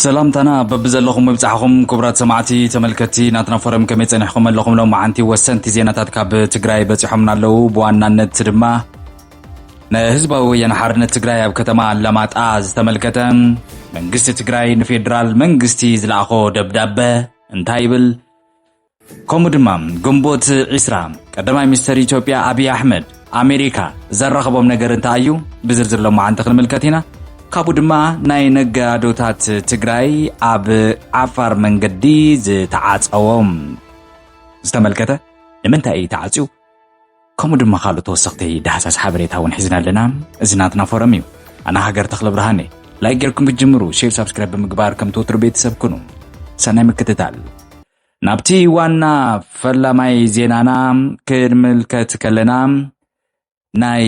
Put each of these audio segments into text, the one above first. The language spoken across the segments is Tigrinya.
ሰላምታና በብዘለኹም ይብጻሕኹም ክቡራት ሰማዕቲ ተመልከቲ ናትና ፎረም ከመይ ጸኒሕኩም ኣለኹም ሎማዓንቲ ወሰንቲ ዜናታት ካብ ትግራይ በጺሖምና ኣለዉ ብዋናነት ድማ ንህዝባዊ ወያነ ሓርነት ትግራይ ኣብ ከተማ ኣላማጣ ዝተመልከተ መንግስቲ ትግራይ ንፌዴራል መንግስቲ ዝለኣኾ ደብዳበ እንታይ ይብል ከምኡ ድማ ግንቦት ዒስራ ቀዳማይ ሚኒስተር ኢትዮጵያ ኣብዪ ኣሕመድ ኣሜሪካ ዘራኸቦም ነገር እንታይ እዩ ብዝርዝር ሎማዓንቲ ክንምልከት ኢና ካብኡ ድማ ናይ ነጋዶታት ትግራይ ኣብ ዓፋር መንገዲ ዝተዓፀዎም ዝተመልከተ ንምንታይ እዩ ተዓፅዩ ከምኡ ድማ ካልእ ተወሰኽቲ ዳህሳስ ሓበሬታ እውን ሒዝና ኣለና እዚ ናትና ፎረም እዩ ኣነ ሃገር ተኽለ ብርሃን እየ ላይክ ጌርኩም ክትጅምሩ ሼር ሳብስክራይብ ብምግባር ከምቲ ወትሩ ቤተሰብ ኩኑ ሰናይ ምክትታል ናብቲ ዋና ፈላማይ ዜናና ክንምልከት ከለና ናይ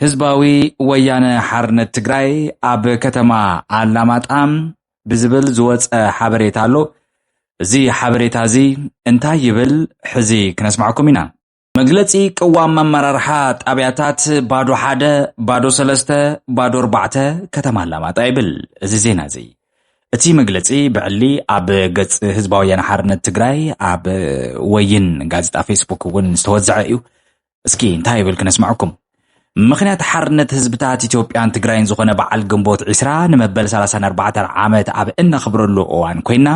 ህዝባዊ ወያነ ሓርነት ትግራይ ኣብ ከተማ ኣላማጣ ብዝብል ዝወፀ ሓበሬታ ኣሎ እዚ ሓበሬታ እዚ እንታይ ይብል ሕዚ ክነስማዕኩም ኢና መግለጺ ቅዋም ኣመራርሓ ጣብያታት ባዶ ሓደ፣ ባዶ ሰለስተ፣ ባዶ ኣርባዕተ ከተማ ኣላማጣ ይብል እዚ ዜና እዚ። እቲ መግለጺ ብዕሊ ኣብ ገጽ ህዝባዊ ወያነ ሓርነት ትግራይ ኣብ ወይን ጋዜጣ ፌስቡክ እውን ዝተወዘዐ እዩ። እስኪ እንታይ ይብል ክነስምዐኩም። ምኽንያት ሓርነት ህዝብታት ኢትዮጵያን ትግራይን ዝኾነ በዓል ግንቦት ዒስራ ንመበል 34 ዓመት ኣብ እነኽብረሉ እዋን ኮይና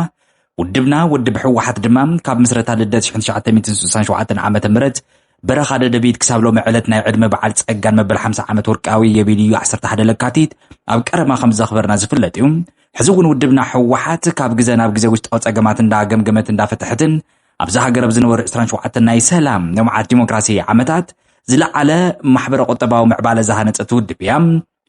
ውድብና ውድብ ህወሓት ድማ ካብ ምስረታ ልደት 1967 ዓ ም በረኻ ደደቢት ክሳብ ሎሚ ዕለት ናይ ዕድመ በዓል ጸጋን መበል 50 ዓመት ወርቃዊ የቤልዩ 11 ለካቲት ኣብ ቀረማ ከም ዘኽበርና ዝፍለጥ እዩ ሕዚ እውን ውድብና ህወሓት ካብ ግዘ ናብ ግዘ ውሽጣዊ ጸገማት እንዳገምገመት እንዳፈትሐትን ኣብዛ ሃገር ኣብ ዝነበሩ ዕስራን ሸውዓተን ናይ ሰላም ልምዓት ዲሞክራሲ ዓመታት ዝለዓለ ማሕበረ ቁጠባዊ ምዕባለ ዝሃነፀት ውድብ እያ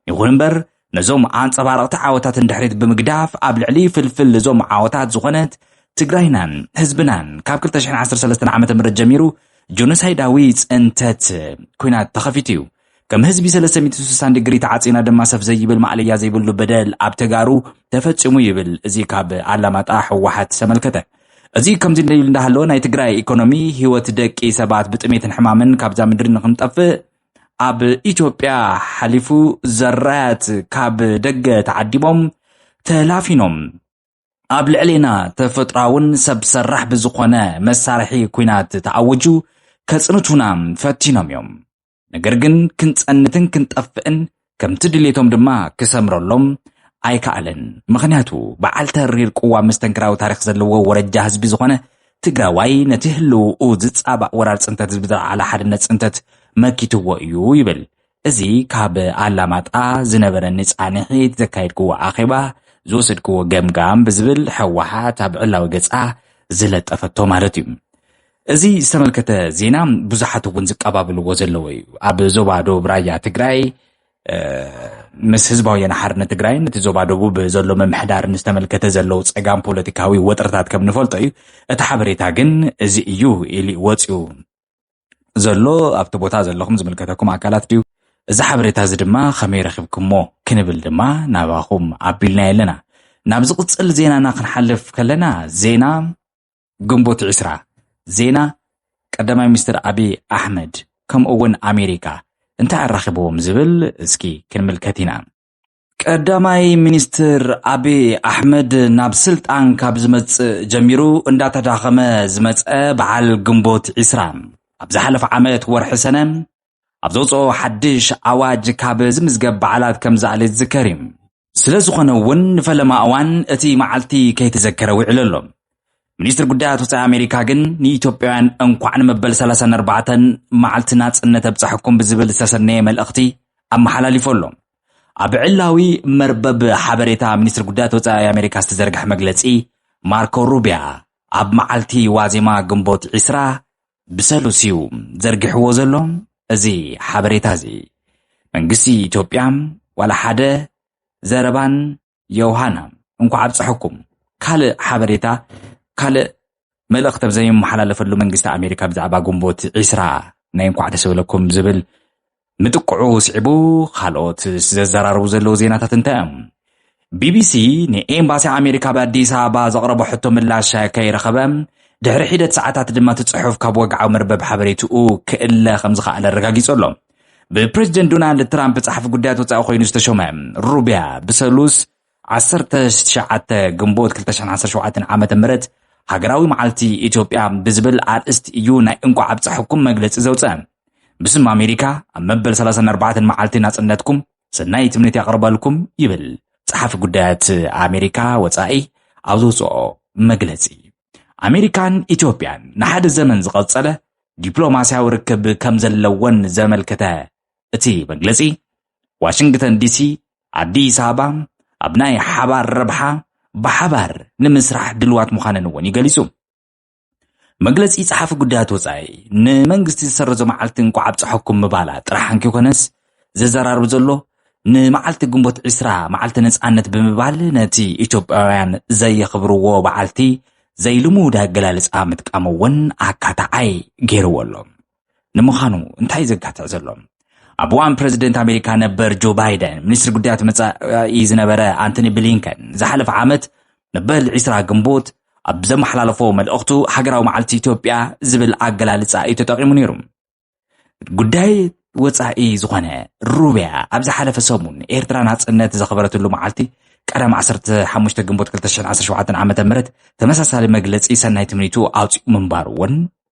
ይኹን እምበር ነዞም ኣንፀባረቕቲ ዓወታትን ድሕሪት ብምግዳፍ ኣብ ልዕሊ ፍልፍል እዞም ዓወታት ዝኾነት ትግራይናን ህዝብናን ካብ 213 ዓ ም ጀሚሩ ጆኖሳይዳዊ ፅንተት ኩናት ተኸፊቱ እዩ ከም ህዝቢ ሰለስተ ሚእቲ ስሳን ድግሪ ተዓጺና ድማ ሰፍ ዘይብል ማእለያ ዘይብሉ በደል ኣብ ተጋሩ ተፈጺሙ ይብል እዚ ካብ ኣላማጣ ህወሓት ዝተመልከተ እዚ ከምዚ እንደ ይብል እንዳሃለወ ናይ ትግራይ ኢኮኖሚ ህይወት ደቂ ሰባት ብጥሜትን ሕማምን ካብዛ ምድሪ ንክንጠፍእ ኣብ ኢትዮጵያ ሓሊፉ ዘራያት ካብ ደገ ተዓዲቦም ተላፊኖም ኣብ ልዕሌና ተፈጥራውን ሰብ ሰራሕ ብዝኾነ መሳርሒ ኩናት ተኣውጁ ከጽንቱና ፈቲኖም እዮም ነገር ግን ክንጸንትን ክንጠፍእን ከምቲ ድሌቶም ድማ ክሰምረሎም ኣይከኣለን። ምኽንያቱ በዓል ተሪር ቅዋም መስተንክራዊ ታሪኽ ዘለዎ ወረጃ ህዝቢ ዝኾነ ትግራዋይ ነቲ ህልውኡ ዝፃባእ ወራር ፅንተት ህዝቢ ዝለዓለ ሓድነት ፅንተት መኪትዎ እዩ ይብል። እዚ ካብ ኣላማጣ ዝነበረኒ ፃንሒት ዘካየድክዎ ኣኼባ ዝወሰድክዎ ገምጋም ብዝብል ሕወሓት ኣብ ዕላዊ ገፃ ዝለጠፈቶ ማለት እዩ። እዚ ዝተመልከተ ዜና ብዙሓት እውን ዝቀባብልዎ ዘለዎ እዩ ኣብ ዞባ ዶብ ራያ ትግራይ ምስ ህዝባዊ ሓርነት ትግራይ እቲ ዞባ ደቡብ ዘሎ ምምሕዳር ዝተመልከተ ዘለው ፀጋም ፖለቲካዊ ወጥርታት ከም ንፈልጦ እዩ እቲ ሓበሬታ ግን እዚ እዩ ኢሊ ወፅኡ ዘሎ ኣብቲ ቦታ ዘለኹም ዝምልከተኩም ኣካላት ድዩ እዚ ሓበሬታ እዚ ድማ ከመይ ረኪብኩሞ ክንብል ድማ ናባኹም ኣቢልና ኣለና ናብ ዝቕፅል ዜናና ክንሓልፍ ከለና ዜና ግንቦት ዕስራ ዜና ቀዳማይ ሚኒስትር ኣብይ ኣሕመድ ከምኡ እውን ኣሜሪካ እንታይ ኣራኺብዎም ዝብል እስኪ ክንምልከት ኢና። ቀዳማይ ሚኒስትር ኣብዪ ኣሕመድ ናብ ስልጣን ካብ ዝመጽእ ጀሚሩ እንዳተዳኸመ ዝመጸ በዓል ግንቦት ዒስራ ኣብ ዝሓለፈ ዓመት ወርሒ ሰነ ኣብ ዘውፅኦ ሓድሽ ኣዋጅ ካብ ዝምዝገብ በዓላት ከም ዝኣለ ዝዝከር እዩ። ስለ ዝኾነ እውን ንፈለማ እዋን እቲ መዓልቲ ከይተዘከረ ውዒሉ ኣሎ። ሚኒስትር ጉዳያት ወፃኢ ኣሜሪካ ግን ንኢትዮጵያውያን እንኳዕ ንመበል 34 መዓልቲ ናፅነት ኣብፀሐኩም ብዝብል ዝተሰነየ መልእኽቲ ኣመሓላሊፉ ኣሎ። ኣብ ዕላዊ መርበብ ሓበሬታ ሚኒስትር ጉዳያት ወፃኢ ኣሜሪካ ዝተዘርግሐ መግለፂ ማርኮ ሩቢያ ኣብ መዓልቲ ዋዜማ ግንቦት 20 ብሰሉስ እዩ ዘርጊሕዎ ዘሎ እዚ ሓበሬታ እዚ። መንግስቲ ኢትዮጵያ ዋላ ሓደ ዘረባን ዮውሃና እንኳዕ ኣብፀሐኩም ካልእ ሓበሬታ ካልእ መልእኽቲ ኣብ ዘይመሓላለፈሉ መንግስቲ ኣሜሪካ ብዛዕባ ግንቦት ዒስራ ናይ እንኳዕ ደስ በለኩም ዝብል ምጥቅዑ ስዒቡ ካልኦት ዘዘራርቡ ዘለዉ ዜናታት እንታይ እዮም? ቢቢሲ ንኤምባሲ ኣሜሪካ ኣብ ኣዲስ ኣበባ ዘቕረቦ ሕቶ ምላሽ ከይረኸበ ድሕሪ ሒደት ሰዓታት ድማ እቲ ጽሑፍ ካብ ወግዓዊ መርበብ ሓበሬትኡ ክእለ ከም ዝኸኣለ ኣረጋጊጹ ኣሎ ብፕሬዚደንት ዶናልድ ትራምፕ ጸሓፊ ጉዳያት ወፃኢ ኮይኑ ዝተሾመ ሩቢያ ብሰሉስ ዓሰርተ ትሽዓተ ግንቦት ክልተ ሽሕን ዓሰርተ ሸውዓተን ዓመተ ምህረት ሃገራዊ መዓልቲ ኢትዮጵያ ብዝብል ኣርእስቲ እዩ ናይ እንቋዕ ኣብፀሐኩም መግለፂ ዘውፀ። ብስም ኣሜሪካ ኣብ መበል ሰላሳን ኣርባዕተን መዓልቲ ናፅነትኩም ሰናይ ትምኒት ያቕርበልኩም ይብል ጸሓፊ ጉዳያት ኣሜሪካ ወፃኢ ኣብ ዘውፅኦ መግለፂ። ኣሜሪካን ኢትዮጵያን ንሓደ ዘመን ዝቐጸለ ዲፕሎማስያዊ ርክብ ከም ዘለወን ዘመልከተ እቲ መግለጺ ዋሽንግተን ዲሲ ኣዲስ ኣበባ ኣብ ናይ ሓባር ረብሓ ብሓባር ንምስራሕ ድልዋት ምዃነን እውን ይገሊጹ። መግለጺ ጸሓፊ ጉዳያት ወጻኢ ንመንግስቲ ዝሰረዞ መዓልቲ እንቋዕ ኣብጽሐኩም ምባላ ጥራሕ እንኪኾነስ ዘዘራርብ ዘሎ ንመዓልቲ ግንቦት ዒስራ መዓልቲ ነጻነት ብምባል ነቲ ኢትዮጵያውያን ዘየኽብርዎ በዓልቲ ዘይልሙድ ኣገላልጻ ምጥቃም እውን ኣካታዓይ ገይርዎ ኣሎ። ንምዃኑ እንታይ ዘጋትዕ ዘሎ ኣብ እዋን ፕረዚደንት ኣሜሪካ ነበር ጆ ባይደን ሚኒስትሪ ጉዳያት መፃኢ ዝነበረ ኣንቶኒ ብሊንከን ዝሓለፈ ዓመት መበል 20 ግንቦት ኣብ ዘመሓላለፎ መልእኽቱ ሃገራዊ መዓልቲ ኢትዮጵያ ዝብል ኣገላልፃ እዩ ተጠቂሙ ነይሩ ጉዳይ ወፃኢ ዝኾነ ሩብያ ኣብ ዝሓለፈ ሰሙን ኤርትራ ናፅነት ዘኽበረትሉ መዓልቲ ቀዳም 15 ግንቦት 2017 ዓ ም ተመሳሳሊ መግለፂ ሰናይ ትምኒቱ ኣውፅኡ ምንባሩ እውን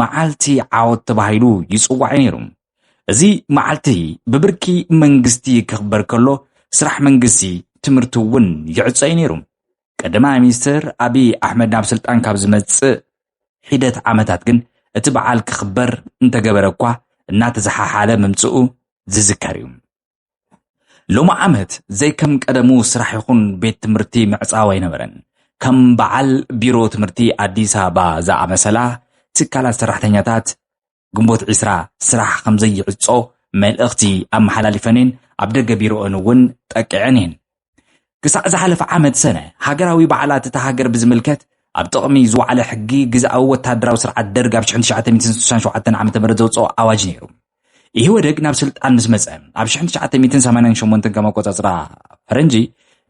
መዓልቲ ዓወት ተባሂሉ ይጽዋዕ ነይሩ። እዚ መዓልቲ ብብርኪ መንግስቲ ክኽበር ከሎ ስራሕ መንግስቲ፣ ትምህርቲ እውን ይዕጾ እዩ ነይሩ። ቀዳማይ ሚኒስትር ኣብይ ኣሕመድ ናብ ስልጣን ካብ ዝመጽእ ሒደት ዓመታት ግን እቲ በዓል ክኽበር እንተገበረ እኳ እናተዘሓሓለ ምምጽኡ ዝዝከር እዩ። ሎሚ ዓመት ዘይከም ቀደሙ ስራሕ ይኹን ቤት ትምህርቲ ምዕፃው ኣይነበረን። ከም በዓል ቢሮ ትምህርቲ ኣዲስ ኣበባ ዝኣመሰላ ትካላት ሰራሕተኛታት ግንቦት ዒስራ ስራሕ ከምዘይዕፆ መልእኽቲ ኣመሓላሊፈን እየን፣ ኣብ ደገ ቢሮኦን እውን ጠቂዐን እየን። ክሳዕ ዝሓለፈ ዓመት ሰነ፣ ሃገራዊ በዓላት እታ ሃገር ብዝምልከት ኣብ ጥቕሚ ዝወዓለ ሕጊ ግዝኣዊ ወተሃደራዊ ስርዓት ደርግ ኣብ ሽሕን ትሽዓተ ሚእትን ስሳን ሸውዓተን ዓመተ ምህረት ዘውጽኦ ኣዋጅ ነይሩ። ኢህወደግ ናብ ስልጣን ምስ መጸ ኣብ ሽሕን ትሽዓተ ሚእትን ሰማንያን ሸሞንተን ከም ኣቆጻጽራ ፈረንጂ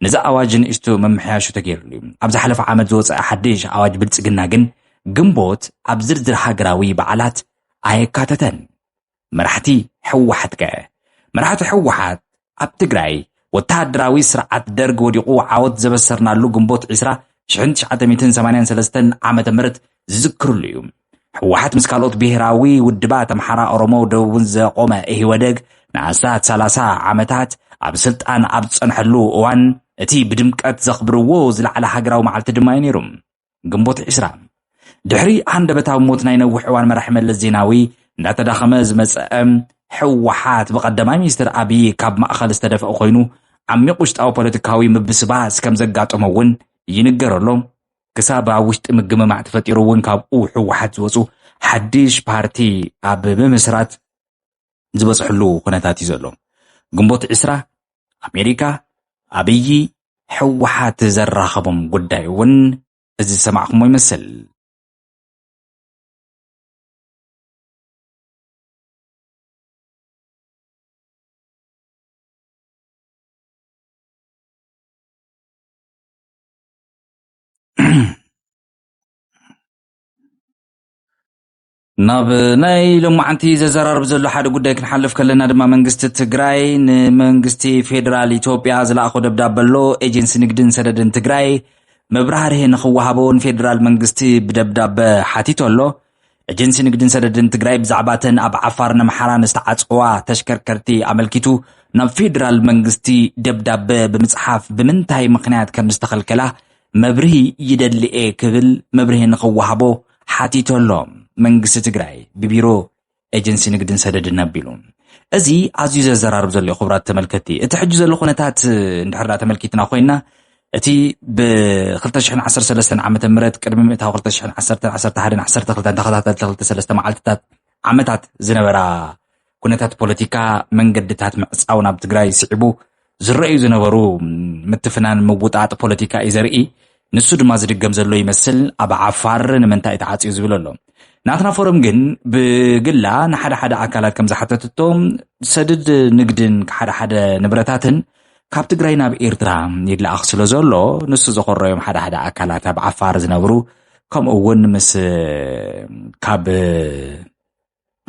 ነዚ ኣዋጅ ንእሽቶ ምምሕያሹ ተገይርሉ እዩ። ኣብ ዝሓለፈ ዓመት ዝወጸ ሓድሽ ኣዋጅ ብልጽግና ግን ግንቦት ኣብ ዝርዝር ሃገራዊ በዓላት ኣየካተተን። መራሕቲ ህወሓት ከ? መራሕቲ ህወሓት ኣብ ትግራይ ወተሃደራዊ ስርዓት ደርግ ወዲቑ ዓወት ዘበሰርናሉ ግንቦት ዕስራ ሽሕን ትሽዓተ ሚእትን ሰማንያን ሰለስተን ዓመተ ምህረት ዝዝክርሉ እዩ። ህወሓት ምስ ካልኦት ብሄራዊ ውድባት ኣምሓራ፣ ኦሮሞ፣ ደቡብን ዘቖመ ኢህወደግ ንኣስታት ሰላሳ ዓመታት ኣብ ስልጣን ኣብ ዝጸንሐሉ እዋን እቲ ብድምቀት ዘኽብርዎ ዝለዓለ ሃገራዊ መዓልቲ ድማ እዩ ነይሩ። ግንቦት ዕስራ ድሕሪ ሃንደበታዊ ሞት ናይ ነዊሕ እዋን መራሒ መለስ ዜናዊ እንዳተዳኸመ ዝመፀአ ሕወሓት ብቀዳማይ ሚኒስትር ኣብዪ ካብ ማእኸል ዝተደፍኦ ኮይኑ ዓሚቕ ውሽጣዊ ፖለቲካዊ ምብስባስ ከም ዘጋጠሞ እውን ይንገረሎ ክሳብ ኣብ ውሽጢ ምግምማዕ ተፈጢሩ እውን ካብኡ ሕወሓት ዝወፁ ሓድሽ ፓርቲ ኣብ ምምስራት ዝበፅሕሉ ኩነታት እዩ ዘሎ። ግንቦት ዕስራ ኣሜሪካ ኣብዪ ህወሓት ዘራኸቦም ጉዳይ እውን እዚ ዝሰማዕኹሞ ይመስል። ናብ ናይ ሎማዓንቲ ዘዘራርብ ዘሎ ሓደ ጉዳይ ክንሓልፍ ከለና ድማ መንግስቲ ትግራይ ንመንግስቲ ፌደራል ኢትዮጵያ ዝለኣኾ ደብዳበ ኣሎ ኤጀንሲ ንግድን ሰደድን ትግራይ መብራህርሂ ንክወሃቦ ንፌደራል መንግስቲ ብደብዳበ ሓቲቶ ኣሎ ኤጀንሲ ንግድን ሰደድን ትግራይ ብዛዕባ ተን ኣብ ዓፋርን ኣምሓራን ዝተዓፀዋ ተሽከርከርቲ ኣመልኪቱ ናብ ፌደራል መንግስቲ ደብዳበ ብምፅሓፍ ብምንታይ ምክንያት ከም ዝተኸልከላ መብርሂ ይደሊ'የ ክብል መብርሂ ንኽወሃቦ ሓቲቱ ኣሎ መንግስቲ ትግራይ ብቢሮ ኤጀንሲ ንግድን ሰደድን ኣቢሉ። እዚ ኣዝዩ ዘዘራርብ ዘሎ እዩ ክቡራት ተመልከቲ። እቲ ሕጂ ዘሎ ኩነታት እንድሕር ዳ ተመልኪትና ኮይና እቲ ብ2013 ዓ ም ቅድሚ ምእታዊ 2011 12 ተኸታተልቲ ክልተ ሰለስተ መዓልትታት ዓመታት ዝነበራ ኩነታት ፖለቲካ መንገድታት ምዕፃው ናብ ትግራይ ስዒቡ ዝረኣዩ ዝነበሩ ምትፍናን ምውጣጥ ፖለቲካ እዩ ዘርኢ ንሱ ድማ ዝድገም ዘሎ ይመስል ኣብ ዓፋር ንምንታይ ተዓፅዩ ዝብል ኣሎ ናትና ፎረም ግን ብግላ ንሓደ ሓደ ኣካላት ከም ዝሓተትቶ ሰድድ ንግድን ሓደ ሓደ ንብረታትን ካብ ትግራይ ናብ ኤርትራ ይለኣኽ ስለ ዘሎ ንሱ ዘኮረዮም ሓደ ሓደ ኣካላት ኣብ ዓፋር ዝነብሩ ከምኡ እውን ምስ ካብ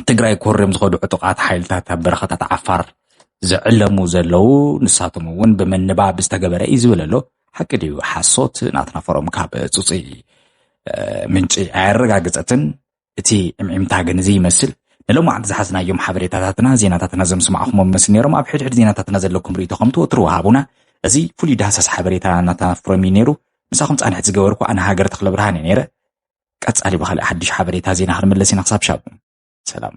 ትግራይ ኮርዮም ዝኸዱ ዕጡቓት ሓይልታት ኣብ በረኻታት ዓፋር ዝዕለሙ ዘለዉ ንሳቶም እውን ብምንባብ ዝተገበረ እዩ ዝብል ኣሎ ሓቂ ድዩ ሓሶት ናትና ፎሮም ካብ ፅፁይ ምንጪ ኣየረጋግፀትን እቲ ዕምዒምታ ግን እዚ ይመስል ንሎማዓንቲ ዝሓዝናዮም ሓበሬታታትና ዜናታትና ዘምስማዕኹሞም መስል ነይሮም ኣብ ሕድሕድ ዜናታትና ዘለኩም ርእቶ ከም ትወትሩ ወሃቡና እዚ ፍሉይ ዳህሳስ ሓበሬታ ናትና ፎረም እዩ ነይሩ ምሳኹም ፃንሕት ዝገበርኩ ኣነ ሃገር ተክለ ብርሃን እየ ነይረ ቀጻሊ ብኻልእ ሓድሽ ሓበሬታ ዜና ክንምለስ ኢና ክሳብ ሻቡ ሰላም